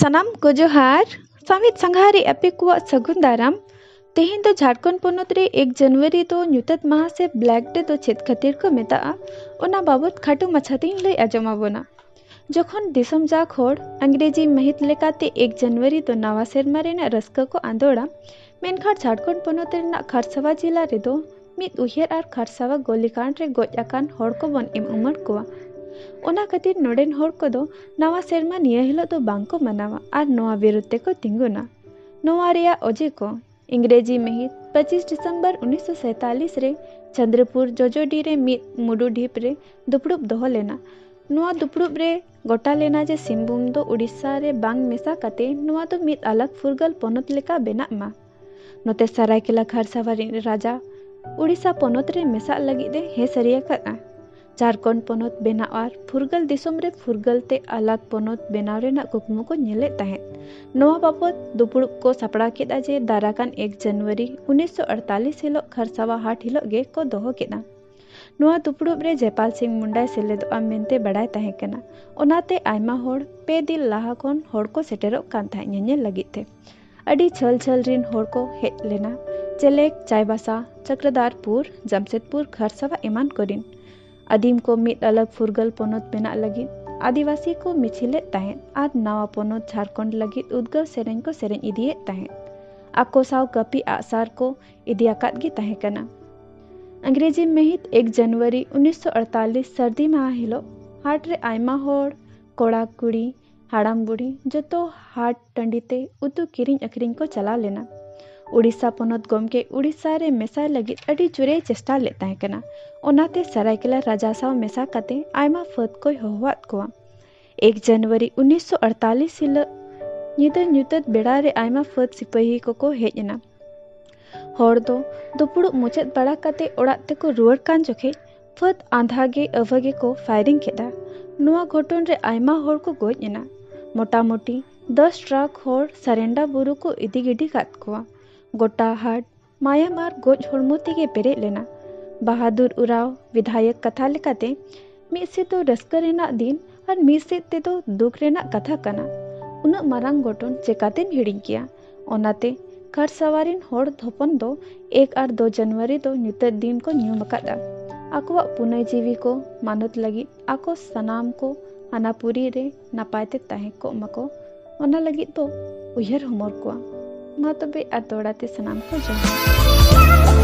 ᱥᱟᱱᱟᱢ ᱠᱚ ᱡᱚᱦᱟᱨ ᱥᱟᱢᱤᱛ ᱥᱟᱸᱜᱷᱟᱨᱤ ᱟᱯᱮ ᱠᱚᱣᱟᱜ ᱥᱟᱹᱜᱩᱱ ᱫᱟᱨᱟᱢ ᱛᱮᱦᱮᱧ ᱫᱚ ᱡᱷᱟᱲᱠᱷᱚᱸᱰ ᱯᱚᱱᱚᱛ ᱨᱮ ᱮᱠ ᱡᱟᱱᱩᱣᱟᱨᱤ ᱫᱚ ᱧᱩᱛᱟᱹᱛ ᱢᱟᱦᱟ ᱥᱮ ᱵᱞᱮᱠ ᱰᱮ ᱫᱚ ᱪᱮᱫ ᱠᱷᱟᱹᱛᱤᱨ ᱠᱚ ᱢᱮᱛᱟᱜᱼᱟ ᱚᱱᱟ ᱵᱟᱵᱚᱫ ᱠᱷᱟᱴᱚ ᱢᱟᱪᱷᱟ ᱛᱤᱧ ᱞᱟᱹᱭ ᱟᱸᱡᱚᱢ ᱟᱵᱚᱱᱟ ᱡᱚᱠᱷᱚᱱ ᱫᱤᱥᱚᱢ ᱡᱟᱠ ᱦᱚᱲ ᱟᱝᱜᱨᱮᱡᱤ ᱢᱟᱹᱦᱤᱛ ᱞᱮᱠᱟᱛᱮ ᱮᱠ ᱡᱟᱱᱩᱣᱟᱨᱤ ᱫᱚ ᱱᱟᱣᱟ ᱥᱮᱨᱢᱟ ᱨᱮᱱᱟᱜ ᱨᱟᱹᱥᱠᱟᱹ ᱠᱚ ᱟᱸᱫᱚᱲᱟ ᱢᱮᱱᱠᱷᱟᱱ ᱡᱷᱟᱲᱠᱷᱚᱸᱰ ᱯᱚᱱᱚᱛ ᱨᱮᱱᱟᱜ ᱠᱷᱟᱨᱥᱟᱣᱟ ᱡᱮᱞᱟ ᱨᱮᱫᱚ ᱢᱤᱫ ᱩᱭᱦᱟᱹᱨ ᱟᱨ ᱠᱷᱟᱨᱥᱟᱣᱟ ᱜᱚᱞᱤᱠᱟᱸᱰ ᱨᱮ ᱜᱚᱡ ᱟᱠᱟᱱ ᱦᱚᱲ ᱠᱚᱵᱚᱱ ᱮᱢ ᱩᱢᱟᱹᱲ ᱠᱚᱣᱟ ᱚᱱᱟ ᱠᱷᱟᱹᱛᱤᱨ ᱱᱚᱰᱮᱱ ᱦᱚᱲ ᱠᱚᱫᱚ ᱱᱟᱣᱟ ᱥᱮᱨᱢᱟ ᱱᱤᱭᱟᱹ ᱦᱤᱞᱳᱜ ᱫᱚ ᱵᱟᱝᱠᱚ ᱢᱟᱱᱟᱣᱟ ᱟᱨ ᱱᱚᱣᱟ ᱵᱤᱨᱩᱫᱽ ᱛᱮᱠᱚ ᱛᱤᱸᱜᱩᱱᱟ ᱱᱚᱣᱟ ᱨᱮᱭᱟᱜ ᱚᱡᱮ ᱠᱚ ᱤᱝᱨᱮᱡᱤ ᱢᱟᱹᱦᱤᱛ ᱯᱚᱸᱪᱤᱥ ᱰᱤᱥᱮᱢᱵᱚᱨ ᱩᱱᱤᱥ ᱥᱚ ᱥᱟᱭᱛᱟᱞᱤᱥ ᱨᱮ ᱪᱚᱸᱫᱽᱨᱚᱯᱩᱨ ᱡᱚᱡᱚᱰᱤ ᱨᱮ ᱢᱤᱫ ᱢᱩᱰᱩ ᱰᱷᱤᱯ ᱨᱮ ᱫᱩᱯᱲᱩᱵ ᱫᱚᱦᱚ ᱞᱮᱱᱟ᱾ ᱱᱚᱣᱟ ᱫᱩᱯᱲᱩᱵ ᱨᱮ ᱜᱚᱴᱟ ᱞᱮᱱᱟ ᱡᱮ ᱥᱤᱝᱵᱷᱩᱢ ᱫᱚ ᱳᱰᱤᱥᱟ ᱨᱮ ᱵᱟᱝ ᱢᱮᱥᱟ ᱠᱟᱛᱮ ᱱᱚᱣᱟ ᱫᱚ ᱢᱤᱫ ᱟᱞᱟᱜᱽ ᱯᱷᱩᱨᱜᱟᱹᱞ ᱯᱚᱱᱚᱛ ᱞᱮᱠᱟ ᱵᱮᱱᱟᱜ ᱢᱟ᱾ ᱱᱚᱛᱮ ᱥᱟᱨᱟᱭᱠᱮᱞᱟ ᱠᱷᱟᱨᱥᱟᱣᱟ ᱨᱤᱱᱤᱡ ᱨᱟᱡᱟ ᱳᱰᱤᱥᱟ ᱯᱚᱱᱚᱛ ᱨᱮ ᱢᱮᱥᱟᱜ ᱞᱟᱹᱜᱤᱫ ᱮ ᱦᱮᱸ ᱥᱟᱹᱨᱤ ᱟᱠᱟᱫᱼᱟ᱾ ᱡᱷᱟᱨᱠᱷᱚᱸᱰ ᱯᱚᱱᱚᱛ ᱵᱮᱱᱟᱣ ᱟᱨ ᱯᱷᱩᱨᱜᱟᱹᱞ ᱫᱤᱥᱚᱢ ᱨᱮ ᱯᱷᱩᱨᱜᱟᱹᱞ ᱛᱮ ᱟᱞᱟᱜᱽ ᱯᱚᱱᱚᱛ ᱵᱮᱱᱟᱣ ᱨᱮᱱᱟᱜ ᱠᱩᱠᱢᱩ ᱠᱚ ᱧᱮᱞᱮᱫ ᱛᱟᱦᱮᱸᱫ᱾ ᱱᱚᱣᱟ ᱵᱟᱵᱚᱛ ᱫᱩᱯᱩᱲᱩᱵ ᱠᱚ ᱥᱟᱯᱲᱟᱣ ᱠᱮᱫᱼᱟ ᱡᱮ ᱫᱟᱨᱟ ᱠᱟᱱ ᱮᱠ ᱡᱟᱱᱩᱣᱟᱨᱤ ᱩᱱᱤᱥ ᱥᱚ ᱟᱴᱛᱟᱞᱤᱥ ᱦᱤᱞᱚᱜ ᱠᱷᱟᱨᱥᱟᱣᱟ ᱦᱟᱴ ᱦᱤᱞᱚᱜ ᱜᱮ ᱠᱚ ᱫᱚᱦᱚ ᱠᱮᱫᱼᱟ᱾ ᱱᱚᱣᱟ ᱫᱩᱯᱩᱲᱩᱵ ᱨᱮ ᱡᱮᱯᱟᱞ ᱥᱤᱝ ᱢᱩᱱᱰᱟᱭ ᱥᱮᱞᱮᱫᱚᱜᱼᱟ ᱢᱮᱱᱛᱮ ᱵᱟᱰᱟᱭ ᱛᱟᱦᱮᱸ ᱠᱟᱱᱟ᱾ ᱚᱱᱟᱛᱮ ᱟᱭᱢᱟ ᱦᱚᱲ ᱯᱮ ᱫᱤᱱ ᱞᱟᱦᱟ ᱠᱷᱚᱱ ᱦᱚᱲ ᱠᱚ ᱥᱮᱴᱮᱨᱚᱜ ᱠᱟᱱ ᱛᱟᱦᱮᱸᱫ ᱧᱮᱧᱮᱞ ᱞᱟᱹᱜᱤᱫ ᱛᱮ᱾ ᱟᱹᱰᱤ ᱡᱷᱟᱹᱞ ᱡᱷᱟᱹᱞ ᱨᱤᱱ ᱦᱚᱲ ᱠᱚ ᱦᱮᱡ ᱞᱮᱱᱟ ᱪᱮᱞᱮᱠ ᱪᱟᱭᱵᱟᱥᱟ ᱪᱚᱠᱨᱚᱫᱟᱨᱯᱩᱨ ᱡᱟᱢᱥᱮᱫᱽᱯᱩᱨ ᱠᱷᱟᱨᱥᱟᱣᱟ ᱮᱢᱟᱱ ᱠᱚᱨᱤᱱ ᱟᱹᱫᱤᱢ ᱠᱚ ᱢᱤᱫ ᱟᱞᱟᱜᱽ ᱯᱷᱩᱨᱜᱟᱹᱞ ᱯᱚᱱᱚᱛ ᱵᱮᱱᱟᱜ ᱞᱟᱹᱜᱤᱫ ᱟᱹᱫᱤᱵᱟᱹᱥᱤ ᱠᱚ ᱢᱤᱪᱷᱤᱞᱮᱫ ᱛᱟᱦᱮᱸᱫ ᱟᱨ ᱱᱟᱣᱟ ᱯᱚᱱᱚᱛ ᱡᱷᱟᱨᱠᱷᱚᱸᱰ ᱞᱟᱹᱜᱤᱫ ᱩᱫᱽᱜᱟᱹᱣ ᱥᱮᱨᱮᱧ ᱠᱚ ᱥᱮᱨᱮᱧ ᱤᱫᱤᱭᱮᱫ ᱛᱟᱦᱮᱸᱫ ᱟᱠᱚ ᱥᱟᱶ ᱠᱟᱹᱯᱤ ᱟᱜᱼᱥᱟᱨ ᱠᱚ ᱤᱫᱤ ᱟᱠᱟᱫ ᱜᱮ ᱛᱟᱦᱮᱸ ᱠᱟᱱᱟ ᱟᱝᱜᱽᱨᱮᱡᱤ ᱢᱟᱹᱦᱤᱛ ᱮᱠ ᱡᱟᱱᱩᱣᱟᱨᱤ ᱩᱱᱤᱥᱥᱚ ᱟᱴᱛᱟᱞᱤᱥ ᱥᱟᱹᱨᱫᱤ ᱢᱟᱦᱟ ᱦᱤᱞᱳᱜ ᱦᱟᱴ ᱨᱮ ᱟᱭᱢᱟ ᱦᱚᱲ ᱠᱚᱲᱟ ᱠᱩᱲᱤ ᱦᱟᱲᱟᱢ ᱵᱩᱲᱦᱤ ᱡᱚᱛᱚ ᱦᱟᱴ ᱴᱟᱺᱰᱤ ᱛᱮ ᱩᱛᱩ ᱠᱤᱨᱤᱧ ᱟᱹᱠᱷᱨᱤᱧ ᱠᱚ ᱪᱟᱞᱟᱣ ᱞᱮᱱᱟ ᱩᱲᱤᱥᱥᱟ ᱯᱚᱱᱚᱛ ᱜᱚᱢᱠᱮ ᱩᱲᱤᱥᱥᱟ ᱨᱮ ᱢᱮᱥᱟᱭ ᱞᱟᱹᱜᱤᱫ ᱟᱹᱰᱤ ᱡᱳᱨᱮ ᱪᱮᱥᱴᱟ ᱞᱮᱫ ᱛᱟᱦᱮᱸ ᱠᱟᱱᱟ ᱚᱱᱟᱛᱮ ᱥᱟᱨᱟᱭᱠᱮᱞᱟ ᱨᱟᱡᱟ ᱥᱟᱶ ᱢᱮᱥᱟ ᱠᱟᱛᱮ ᱟᱭᱢᱟ ᱯᱷᱟᱹᱫ ᱠᱚᱭ ᱦᱚᱦᱚᱣᱟᱫ ᱠᱚᱣᱟ ᱮᱠ ᱡᱟᱱᱩᱣᱟᱨᱤ ᱩᱱᱤᱥᱥᱚ ᱟᱴᱛᱟᱞᱤᱥ ᱦᱤᱞᱳᱜ ᱧᱤᱫᱟᱹ ᱧᱩᱛᱟᱹᱛ ᱵᱮᱲᱟ ᱨᱮ ᱟᱭᱢᱟ ᱯᱷᱟᱹᱫ ᱥᱤᱯᱟᱹᱦᱤ ᱠᱚᱠᱚ ᱦᱮᱡ ᱮᱱᱟ ᱦᱚᱲ ᱫᱚ ᱫᱩᱯᱩᱲᱩᱵ ᱢᱩᱪᱟᱹᱫ ᱵᱟᱲᱟ ᱠᱟᱛᱮ ᱚᱲᱟᱜ ᱛᱮᱠᱚ ᱨᱩᱣᱟᱹᱲ ᱠᱟᱱ ᱡᱚᱠᱷᱮᱡ ᱯᱷᱟᱹᱫ ᱟᱸᱫᱷᱟ ᱜᱮ ᱟᱹᱵᱷᱟᱹ ᱜᱮᱠᱚ ᱯᱷᱟᱭᱨᱤᱝ ᱠᱮᱫᱟ ᱱᱚᱣᱟ ᱜᱷᱚᱴᱚᱱ ᱨᱮ ᱟᱭᱢᱟ ᱦᱚᱲ ᱠᱚ ᱜᱚᱡ ᱮᱱᱟ ᱢᱚᱴᱟᱢᱩᱴᱤ ᱫᱚᱥ ᱴᱨᱟᱠ ᱦᱚᱲ ᱥᱟᱨᱮᱱᱰᱟ ᱵᱩᱨᱩ ᱠᱚ ᱤᱫᱤ ᱜᱤᱰᱤ ᱠᱟᱫ ᱠᱚᱣᱟ ᱜᱚᱴᱟ ᱦᱟᱴ ᱢᱟᱭᱟᱢ ᱟᱨ ᱜᱚᱡ ᱦᱚᱲᱢᱚ ᱛᱮᱜᱮ ᱯᱮᱨᱮᱡ ᱞᱮᱱᱟ ᱵᱟᱦᱟᱫᱩᱨ ᱩᱨᱟᱣ ᱵᱤᱫᱷᱟᱭᱚᱠ ᱠᱟᱛᱷᱟ ᱞᱮᱠᱟᱛᱮ ᱢᱤᱫ ᱥᱮᱫ ᱫᱚ ᱨᱟᱹᱥᱠᱟᱹ ᱨᱮᱱᱟᱜ ᱫᱤᱱ ᱟᱨ ᱢᱤᱫ ᱥᱮᱫ ᱛᱮᱫᱚ ᱫᱩᱠ ᱨᱮᱱᱟᱜ ᱠᱟᱛᱷᱟ ᱠᱟᱱᱟ ᱩᱱᱟᱹᱜ ᱢᱟᱨᱟᱝ ᱜᱷᱚᱴᱚᱱ ᱪᱮᱠᱟᱛᱮᱢ ᱦᱤᱲᱤᱧ ᱠᱮᱭᱟ ᱚᱱᱟᱛᱮ ᱠᱟᱨ ᱥᱟᱣᱟᱨᱤᱱ ᱦᱚᱲ ᱦᱚᱯᱚᱱ ᱫᱚ ᱮᱠ ᱟᱨ ᱫᱩ ᱡᱟᱱᱩᱣᱟᱨᱤ ᱫᱚ ᱧᱩᱛᱟᱹᱛ ᱫᱤᱱ ᱠᱚ ᱧᱩᱢ ᱟᱠᱟᱫᱟ ᱟᱠᱚᱣᱟᱜ ᱯᱩᱱᱟᱹᱭ ᱡᱤᱣᱤ ᱠᱚ ᱢᱟᱱᱚᱛ ᱞᱟᱹᱜᱤᱫ ᱟᱠᱚ ᱥᱟᱱᱟᱢ ᱠᱚ ᱟᱱᱟᱯᱩᱨᱤ ᱨᱮ ᱱᱟᱯᱟᱭ ᱛᱮ ᱛᱟᱦᱮᱸ ᱠᱚᱜ ᱢᱟᱠᱚ ᱚᱱᱟ ᱞᱟᱹᱜᱤᱫ ᱫᱚ ᱩᱭᱦᱟᱹᱨ ᱦᱚᱢᱚᱨ ᱠᱚᱣᱟ ᱢᱟ ᱛᱚᱵᱮ ᱟᱨ ᱫᱚᱲᱟ ᱛᱮ ᱥᱟᱱᱟᱢ ᱠᱚ ᱡᱚᱦᱟᱨ